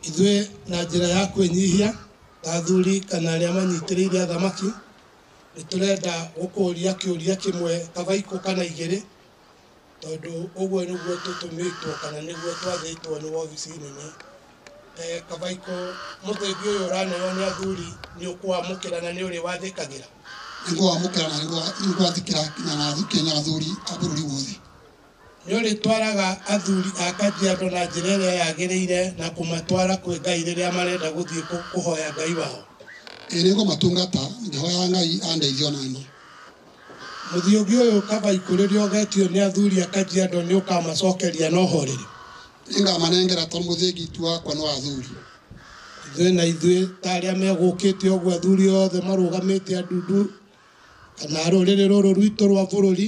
Ithuĩ na njĩra ya kwĩnyihia ta athuri kana arĩa manyitĩrĩire athamaki, nĩ tũrenda gũkũria kĩũria kĩmwe kabaikũ kana igĩrĩ, tondũ ũguo nĩguo tũtũmĩtwo kana nĩguo twathĩtwo nĩ wobici nene. Kabaikũ mũthĩgi ũyũ ũraneo nĩ athuri nĩ ũkũwamũkĩra na nĩ ũrĩwathĩkagĩra? Nĩ ngũwamũkĩra na nĩ ngwathĩkĩra nginya na njĩke na athuri a bũrũri wothe. Nĩ ũrĩtwaraga athuri a Kajiado na njĩra ĩrĩa yagĩrĩire na kũmatwara kwĩ Ngai rĩrĩa marenda gũthiĩ kũhoya Ngai wao? Ĩĩ nĩngũmatungata, ngĩhoyaga Ngai andeithie o na niĩ. Mũthiũngi ũyũ kaba ikũrĩrĩa ũgetio nĩ athuri a Kajiado nĩ ũkamacokeria na ũhoreri? Nĩngamanengera tondũ mũthĩngi ti wakwa nĩ wa athuri. Ithuĩ na ithuĩ ta arĩa megũkĩte ũguo athuri othe marũgamĩte a ndundu kana a rũrĩrĩ rũrũ rwitũ rwa bũrũri.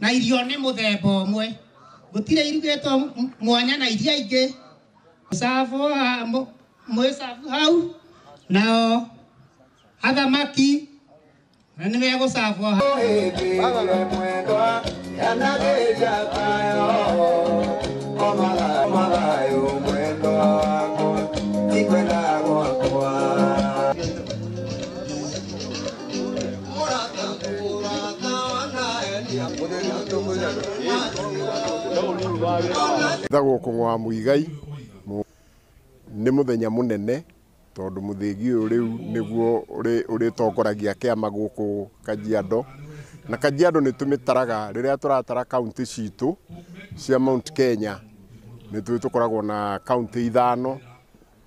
na irio nĩ mũthemba ũmwe gũtirĩ irugĩtwo m- mwanya na iria ingĩ mũcabu ha- mũ- mũcabu hau nao athamaki na nĩ megũcabwo hau Mwendo wako, nikwenda gwakwa Njĩtagwo Kũng'ũ wa Muigai, nĩ mũthenya mũnene tondũ mũthĩgi ũyũ rĩu nĩguo ũrĩtongoragia kĩama gũkũ Kajiado. Na Kajiado nĩ tũmĩtaraga rĩrĩa tũratara kauntĩ citũ cia Mount Kenya, nĩ tũkoragwo na kauntĩ ithano.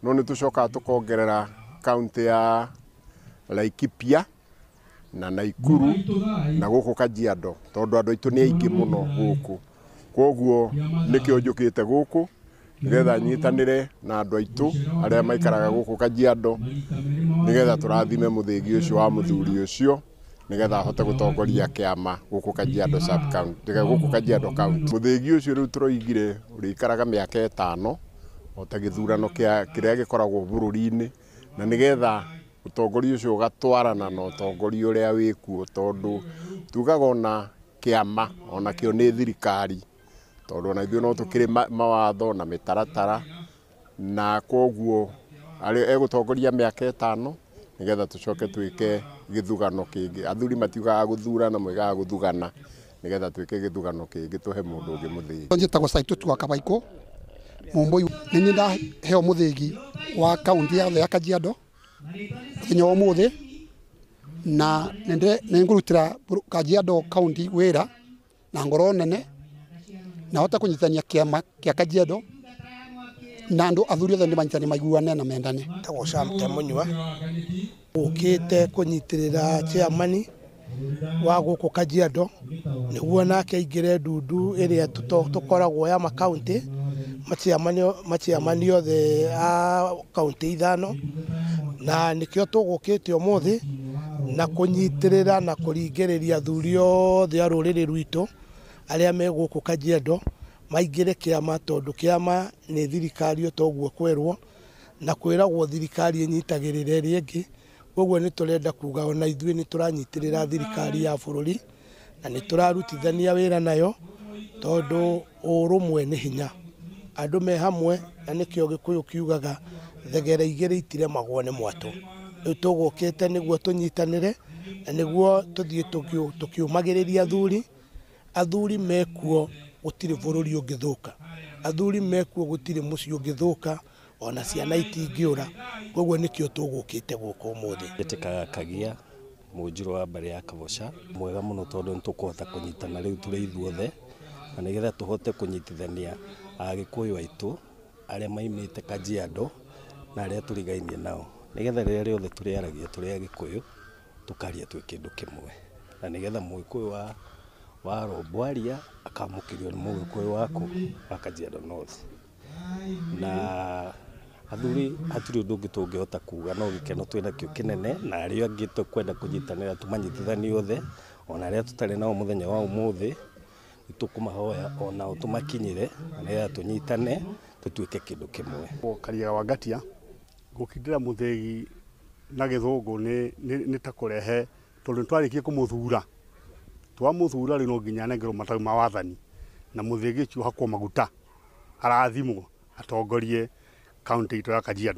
no nĩ tũcokaga tũkongerera kaunti ya Laikipia na Naikuru na gũkũ Kajiado tondũ andũ aitũ nĩ aingĩ mũno gũkũ kwoguo nĩkĩo njũkĩte gũkũ nĩgetha nyitanĩre na andũ aitũ arĩa maikaraga gũkũ Kajiado nĩgetha tũrathime mũthĩgi ũcio wa mũthuri ũcio nigetha ahote gutongoria kiama guku Kajiado sub county guku Kajiado county muthingi ucio riu turoigire urikaraga miaka itano ota githurano kia kiria gikoragwo bururi-ini na nigetha utongoria ucio ugatwarana na utongoria uria wikuo tondu tugaga ona kiama onakio ni thirikari tondu ona ithuĩ no tukiri mawatho na mitaratara na koguo arĩ egũtongoria mĩaka ĩtano nĩgetha tũcoke twĩke gĩthurano kĩngĩ athuri matiugaga gũthurana moigaga gũthugana nĩgetha twĩke gĩthurano kĩngĩ tũhe mũndũ ũngĩ mũthĩgi njĩtagwo Saitoti wa Kabaikũ Mũmbũi nĩ niĩ ndaheo mũthĩgi wa kaunti yothe ya Kajiado mũthenya wa ũmũthĩ na nĩ ngũrutĩra Kajiado kaunti wĩra. na ngoro nene na hote kunyitithania kiama kia kajiado na andu athuri othe ni manyitane maiguane na mendane tagwo Sam Temunyua ukite kunyitirira chairman wa guku Kajiado niguo nake aingire ndundu iria tukoragwo ya makaunti machairman othe a kauntĩ ithano na nĩkĩo tũgũkĩte ũmũthĩ na kũnyitĩrĩra na kũringĩrĩria athuri othe a rũrĩrĩ rwitũ arĩa me gũkũ Kajiado maingĩre kĩama tondũ kĩama nĩ thirikari o ta ũguo kwerwo na kwĩragwo thirikari ĩnyitagĩrĩra ĩrĩa ĩngĩ. Koguo nĩ tũrenda kuga ona ithuĩ nĩ tũranyitĩrĩra thirikari ya bũrũri na nĩ tũrarutithania wĩra nayo tondũ ũrũmwe nĩ hinya. Andũ me hamwe na nĩkĩo Gĩkũyũ kiugaga thegera igĩrĩ itiremagwo nĩ mwatũ. Rĩu tũgũkĩte nĩguo tũnyitanĩre na nĩguo tũthiĩ tũkĩũmagĩrĩria athuri. Athuri mekuo gũtirĩ bũrũri ũngĩthũka, athuri mekuo gũtirĩ mũciĩ ũngĩthũka. ona ciana itingĩũra koguo nĩkĩo tũgũkĩte gũkũ ũmũthĩ Njĩtĩkaga Kagia, mũnjirũ wa mbarĩ ya Kaboca, mwega mũno tondũ nĩtũkũhota kũnyitana rĩu tũrĩ ithuothe, na nĩgetha tũhote kũnyitithania Agĩkũyũ aitũ arĩa maimĩte Kajiado na arĩa tũrigainie nao, nĩgetha rĩrĩa rĩothe tũrĩaragia tũrĩ Agĩkũyũ, tũkaria twĩ kĩndũ kĩmwe, na nĩgetha Mũgĩkũyũ wa wa Rombo aria, akamũkĩrio nĩ Mũgĩkũyũ wa kũ? Wa Kajiado North. na athuri hatirĩ ũndũ ũngĩ tũngĩhota kuga no gĩkeno twĩ nakĩo kĩnene na arĩa angĩ tũkwenda kũnyitanĩra tũmanyitithanie othe ona arĩa tũtarĩ nao mũthenya wa ũmũthĩ nĩtũkũmahoya onao tũmakinyĩre nĩgetha tũnyitane tũtuĩke kĩndũ kĩmwe. Karia wa Ngatia, gũkindĩra mũthĩgi na gĩthũngũ nĩ ta kũrehe Tondũ nĩtwarĩkia kũmũthura, twamũthura rĩu no nginya anengerwo matawi ma wathani na mũthĩgĩci ũhakwo maguta, arathimwo atongorie kauntĩ itũ ya Kajiado.